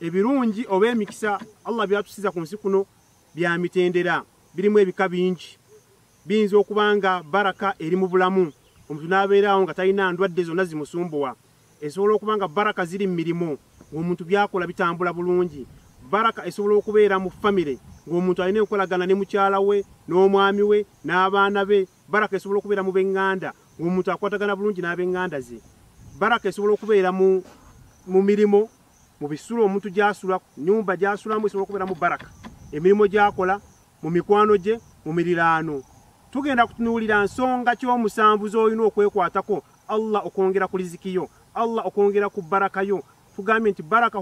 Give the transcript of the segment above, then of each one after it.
ebirungi oba emikisa allah byatusiza ku nsi kuno bya mitendera birimu ebika bingi biyinza okuba nga baraka eri mu bulamu omuntu n'abeerawo nga talina ndwadde zonna zimusumbuwa esobola okuba nga baraka ziri mu mirimu ng'omuntu byakola bitambula bulungi baraka esobola okubeera mu famire ng'omuntu alina enkolagana ne mukyala we n'omwami we n'abaana be baraka esobola okubeera mu b'eŋŋanda ng'omuntu akwatagana bulungi n'ab'eŋŋanda ze baraka esobola okubeera mu mirimu mu bisulo omuntu gy'asula nnyumba gy'asulamu esobola okubeera mu baraka emirimu gy'akola mu mikwano gye mu miriraano tugenda kutunuulira nsonga ky'omusanvu z'olina okwekwatako allah okwongera ku lizikiyo allah okwongera ku baraka yo tugambye nti baraka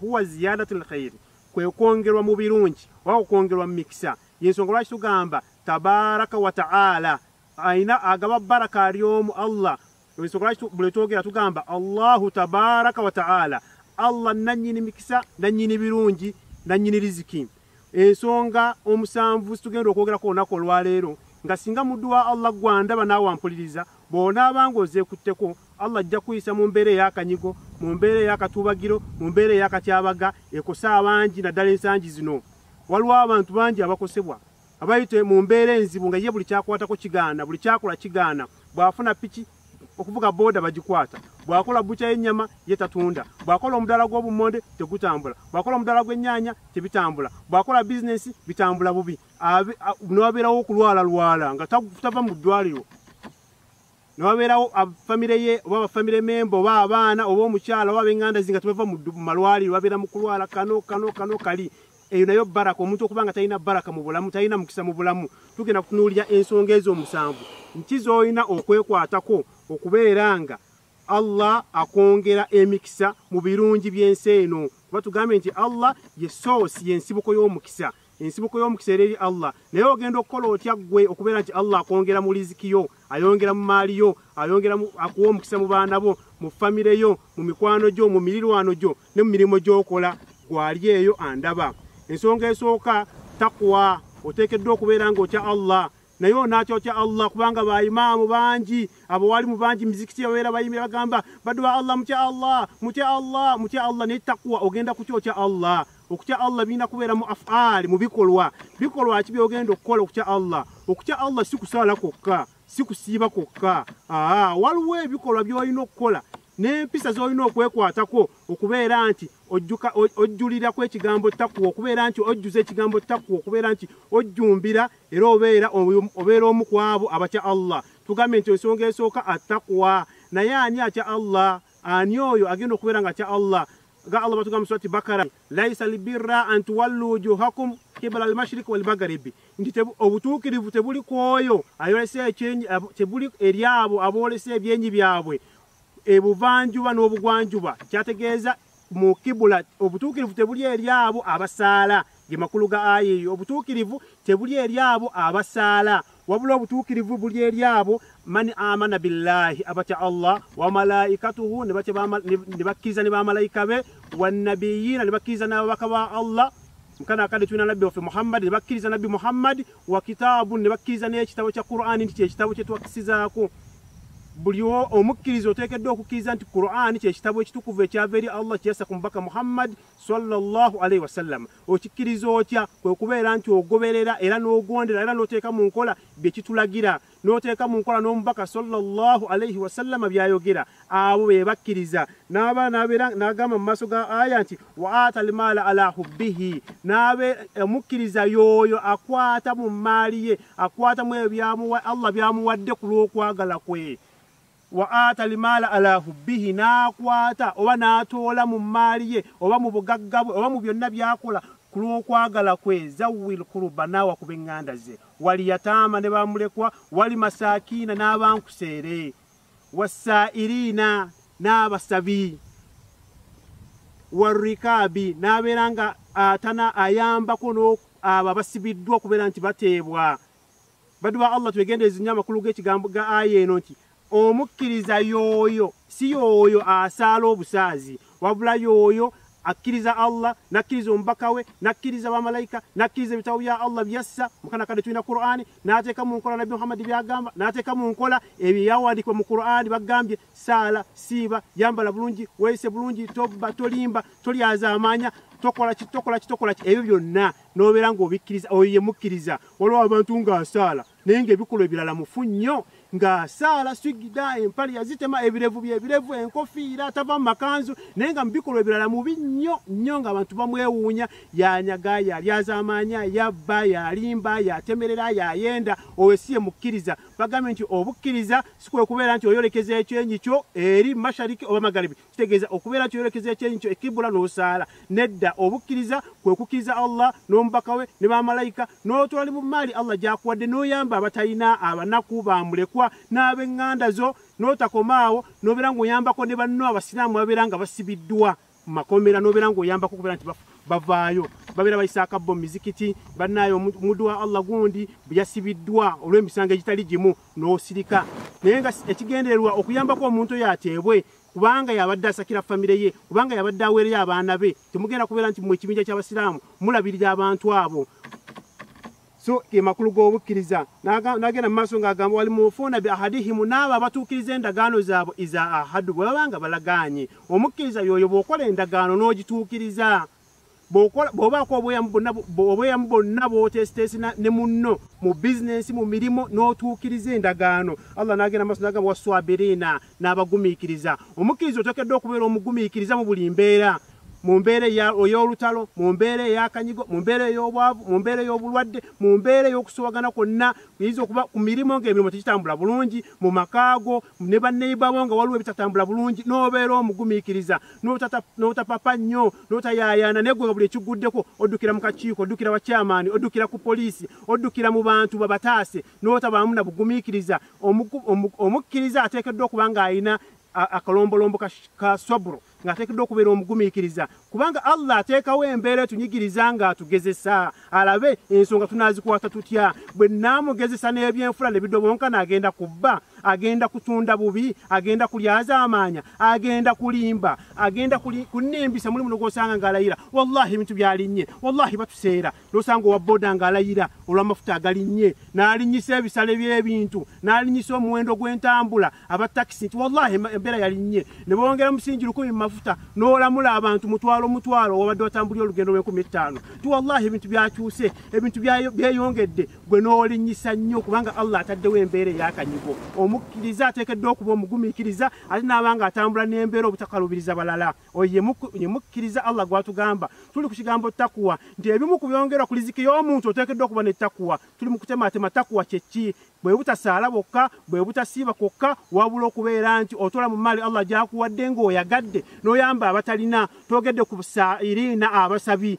huwa ziyadatu lkhairi kwe kwongerwa mu birungi oba okwongerwa mu mikisa yensonga lwaki tugamba tabaraka wataala Aina agaba baraka aliomu Allah lwesokolaki bwetwogera tugamba Allahu tabaraka wa ta'ala Allah nanyini mikisa nanyini birungi nanyini riziki ensonga omusanvu situgenda okwogera ko onako olwaleero nga singa muddu wa Allah gwanda banawe ampuliriza bona abange ozekutteko Allah ajja kuyisa mu mbeera eyakanyigo mu mbeera eyakatubagiro mu mbeera eyakatyabaga ekosa abangi naddala ensangi zino waliwo abantu bangi abakosebwa abayite mu mbeera enzibu nga ye buli kyakwatako kigaana buli kyakola kigaana bw'afuna piki okuvuga booda bagikwata bw'akola bukya y'ennyama ye tatunda bw'akola omudaala gw'obummonde tegutambula bw'akola omudaala gw'ennyaanya tebitambula bw'akola bizinesi bitambula bubi n'abeerawo okulwalalwala nga tava mu ddwaliro ne wabeerawo famire ye oba bafamire memba oba abaana oba omukyala oba abenganda zinga tebava mu malwaliro babeera mu kulwala kano kano kano kali eyo nayo baraka omuntu okuba nga talina baraka mu bulamu talina mukisa mu bulamu tugenda kutunuulira ensonga ezo omusanvu nki z'olina okwekwatako okubeera nga allah akwongera emikisa mu birungi by'ensi eno kuba tugambye nti allah ye source y'ensibuko y'omukisa ensibuko y'omukisa era eri allah naye ogenda okukola otya ggwe okubeera nti allah akwongera mu liziki yo ayongera mu maali yo ayongera akuwa omukisa mu baana bo mu famire yo mu mikwano gyo mu mirirwano gyo ne mu mirimu gy'okola gwali eyo andaba ensonga esooka takuwa oteekeddwa okubeera nga otya allah naye onakyokya allah kubanga baimaamu bangi abawalimu bangi mizikiti ababeera bayimira bagamba baduwa allah mutya allah mutya allah mutya allah naye takuwa ogenda kukyokya allah okutya allah birina kubeera mu afaali mu bikolwa bikolwa ki byogenda okukola okutya allah okutya allah si kusaala kwokka si kusiiba kwokka aa waliwo ebikolwa byolina okukola n'empisa z'olina okwekwatako okubeera nti ojjulira ku ekigambo takuwa okubeera nti ojjuza ekigambo takuwa okubeera nti ojjumbira era obeera obeera omu ku abo abatya allah tugambye nti ensonga esooka atakwa naye ani atya allah ani oyo agenda okubeera nga atya allah ga allah batugamba surati bakara laisa lbirra an tuwallu wujuhakum kibala almashriki walmagaribi nti obutuukirivu tebuli ku oyo ayolesa ekyenyi tebuli eri abo aboolesa ebyenyi byabwe ebuvanjuba n'obugwanjuba kyategeeza mu kibula obutuukirivu tebuli eri abo abasaala ge makulu ga aya eyo obutuukirivu tebuli eri abo abasaala wabula obutuukirivu buli eri abo mani amana billahi abatya allah wamalaikatuhu ne bakkiriza ne bamalaika be wanabiyiina ne bakkiriza n'ababaka ba allah mukana akadde tulina nabbi waffe muhammadi ne bakkiriza nabbi muhammadi wa kitaabun ne bakkiriza n'ekitabo kya qur'ani nti kyekitabo kye twakkisizaako buli omukkiriza oteekeddwa okukkiriza nti qur'ani kyekitabo ekitukuvu ekyava eri allah kyeyassa ku mubaka muhammadi salllah alaihi wasallama okikkiriza otya kwe kubeera nti ogoberera era n'ogondera era n'oteeka mu nkola bye kitulagira n'oteeka mu nkola n'omubaka sallallahu alaihi wasallama byayogera abo be bakkiriza n'aba nabeera n'agamba mu maaso ga aya nti wa ata almaala ala hubbihi n'abe omukkiriza yooyo akwata mu mmaali ye akwatamu ebyamuwa allah byamuwadde ku lw'okwagala kwe Wa aata limaala ala hubbihi, n'akwata oba n'atoola mu mmaali ye oba mu bugagga bwe oba mu byonna by'akola ku lw'okwagala kwe, zawwil kuruba, n'awa ku b'eŋŋanda ze, wal yataama ne ba mulekwa, wal masaakiina n'abankuseere, wassaa'iliina n'abasabi, war rikaabi n'abeera nga atana ayambako n'oku abo abasibiddwa okubeera nti bateebwa. badu ba allah twegendereze nnyo amakulu g'ekigambo ga aya eno nti omukkiriza yooyo si yooyo asaala obusaazi wabula yooyo akkiriza allah nakkiriza omubaka we nakkiriza bamalaika nakkiriza ebitabo bya allah byassa mukana kadde tulina qurani n'ateeka mu nkola nabbi muhammadi byagamba n'ateeka mu nkola ebyo yawandiikibwa mu qurani bagambye saala siiba yambala bulungi weeyise bulungi tobba tolimba tolyazaamaanya tokola ki tokola ki tokola ki ebyo byonna n'obeera ng'obikkiriza oyo ye mukkiriza waliwo abantu ng'asaala naye ng'ebikolwa ebirala mufu nnyo ng'asaala swigida empale yazitema ebirevu byebirevu enkofiira tava mu makanzu naye nga mu bikolwa ebirala mubi nnyo nnyo ng'abantu bamwewuunya yanyaga yalyazamaanya yabba yalimba yatemerera yayenda oyo si ye mukkiriza bagambye nti obukkiriza sikwekubeera nti oyolekeza ekyenyi kyo eri mashariki oba magaribi kitegeeza okubeera kyolekezo ekyenyi kyo ekibula n'osaala nedda obukkiriza kwe kukkiriza allah n'omubaka we ne bamalayika n'otwali mu maali allah gyakuwadde n'oyamba abatalina abanaku bamulekwa n'ab'eŋŋanda zo n'otakomaawo n'obeera ng'oyambako ne banno abasiraamu babeera nga basibiddwa mu makomera n'obeera ng'oyambako okubeera nti bafu bavaayo babeera bayisaaka bo mumizikiti bannaayo omuddu wa allah gundi yasibiddwa olw'emisango egitali gimu n'osirika naye nga ekigendererwa okuyambako omuntu oyo ateebwe kubanga yabadde asakira famire ye kubanga yabadde aweereyo abaana be temugenda kubeera nti mu ekibinja ky'abasiraamu mulabirira abantu abo so ge makulu g'obukkiriza n'agenda mu maaso ng'agamba wali mufuuna bi ahadihimu n'abo abatuukiriza endagaano zaabwe iza ahadu bwe baba nga balagaanye omukkiriza yooyo bw'okola endagaano n'ogituukiriza bw'obaako obweyamu bwonna bw'oteesiteesi ne munno mu bizinensi mu mirimu n'otuukiriza endagaano allah n'agenda maaso n'agamba waswabiriina n'abagumiikiriza omukkiriza oteekeddwa okubeera omugumiikiriza mu buli mbeera mu mbeera ey'olutalo mu mbeera ey'akanyigo mu mbeera ey'obwavu mu mbeera ey'obulwadde mu mbeera ey'okusowagana kwonna kuyinza okuba ku mirimu ng'emirimu tekitambula bulungi mu makaago ne baneiba bo nga waliwo ebitatambula bulungi n'obeera omugumiikiriza n'otapapa nnyo n'otayaayaana naye gwe nga buli ekiguddeko oddukira mu kakiiko oddukira bakyamaani oddukira ku poliisi oddukira mu bantu babataase n'otabaamu na bugumiikiriza omukkiriza ateekeddwa okuba ng'alina akalombolombo ka swaburo ng'ateekeddwa okubeera omugumiikiriza kubanga allah ateekawo embeera etunyigiriza ng'atugezesa alabe ensonga tunaazikwata tutya bwe naamugezesa n'ebyenfula ne bidobonkana agenda kubba agenda kutunda bubi agenda kulyazaamaanya agenda kulimba agenda kunimbisa mulimu nogwosanga ng'alayira wallahi ebintu byalinnye wallahi batuseera nosanga owa boda ng'alayira olw'amafuta agalinnye n'alinyisa ebisale by'ebintu n'alinyisa omuwendo gw'entambula aba takisi nti wallahi embeera yalinnye ne bongera musingi lukumi mu mafuta n'olamula abantu mutwalo mutwalo wabadde watambulira olugendo lw'enkumi ettaano ti wallahi ebintu byakyuse ebintu byeyongedde gwe n'olinyisa nnyo kubanga allah ataddewo embeera eyakanyigo omukkiriza ateekeddwa okuba omugumiikiriza ate n'abanga atambula n'embeera obutakalubiriza balala oyo yemukkiriza allah gwatugamba tuli ku kigambo takuwa nti ebimu ku byongerwa ku liziki y'omuntu oteekeddwa okuba ne takuwa tuli mu kutemaatema takuwa kyeki bwe butasaala bwokka bwe butasiiba kwokka wabula okubeera nti otola mu maali allah gyakuwadde ng'oyagadde n'oyamba abatalina toogedde ku sairina abasabi